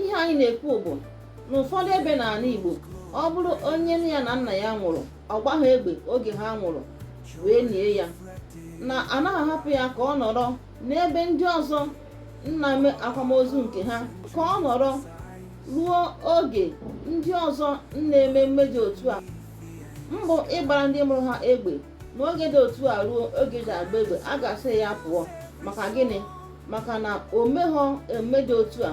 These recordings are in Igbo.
ihe anyị na-ekwu bụ n'ụfọdụ ebe n'ala Igbo ọ bụrụ onye nne ya na nna ya nwụrụ ọ gbagha egbe oge ha nwụrụ wee nie ya na anaghị ahapụ ya ka ọ nọrọ n'ebe ndị ọzọ na-eme akwamozu nke ha ka ọ nọrọ ruo oge ndị ọzọ na-eme mmemme dị otu a mbụ ịgbara ndị mụrụ ha egbe n'oge dị otu a ruo oge e ji agba egbe a ga-asị ya pụọ maka gịnị maka na o meghọ emume dị otu a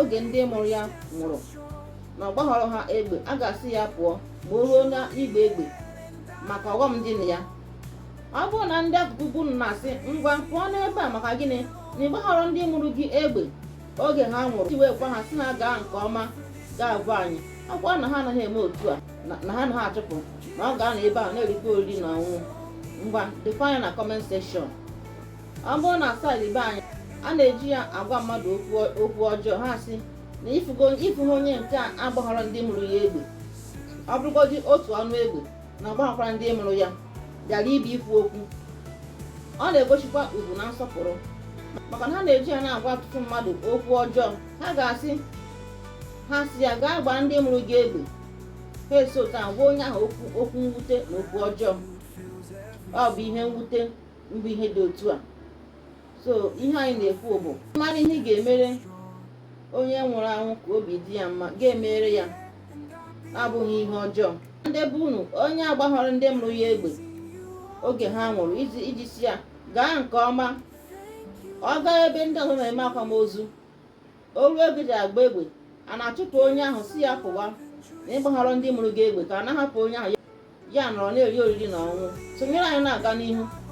oge ndị mụrụ ya nwụrụ na ọ gbaghọrọ ha egbe a ga-asị ya pụọ ma o ruo n'ịgba egbe maka ọghọm dị na ya ọ bụrụ na ndị akụkụ be unu na-asị ngwa pụọ n'ebe a maka gịnị na ị gbaghọrọ ndị mụrụ gị egbe oge ha nwụrụ iji wee gwa ha sị na gaa nke ọma gị agwa anyị ọkwa na ha anaghị eme otu a na ha anaghị achụpụ na ọ ga-anọ ebe a na-erikwa oriri na ọṅụṅụ ngwa debanye na comment section ọ bụrụ na side be anyị a na-eji ya agwa mmadụ okwu ọjọọ ha sị na ị fụgo onye nke a agbaghara ndị mụrụ ya egbe ọ bụrụgodị otu ọnụ egbe na ọ gbaghakwara ndị mụrụ ya bịara ebe a ikwu okwu ọ na-egosikwa ugwu na nsọpụrụ maka na ha na-eji ya na-agwa ọtụtụ mmadụ okwu ọjọọ ha ga-asị ha sị ya gaa gbaara ndị mụrụ gị egbe ha esi otu a gwa onye ahụ okwu mwute na okwu ọjọọ ọ bụ ihe mwute mbụ ihe dị otu a so ihe anyị na-ekwu bụ mara ihe ị ga-emere onye nwụrụ anwụ ka obi dị ya mma gị emere ya abụghị ihe ọjọọ ndị be unu onye agbaghọrọ ndị mụrụ ya egbe oge ha nwụrụ iji sị ya gaa nke ọma ọ gaa ebe ndị ọzọ na-eme akwamozu o ruo oge e ji agba egbe a na-achụpụ onye ahụ sị ya pụwa na ị gbaghọrọ ndị mụrụ gị egbe ka a na-ahapụ onye ahụ ya anọrọ na-eri oriri na ọṅụṅụ sonyere anyị na-aga n'ihu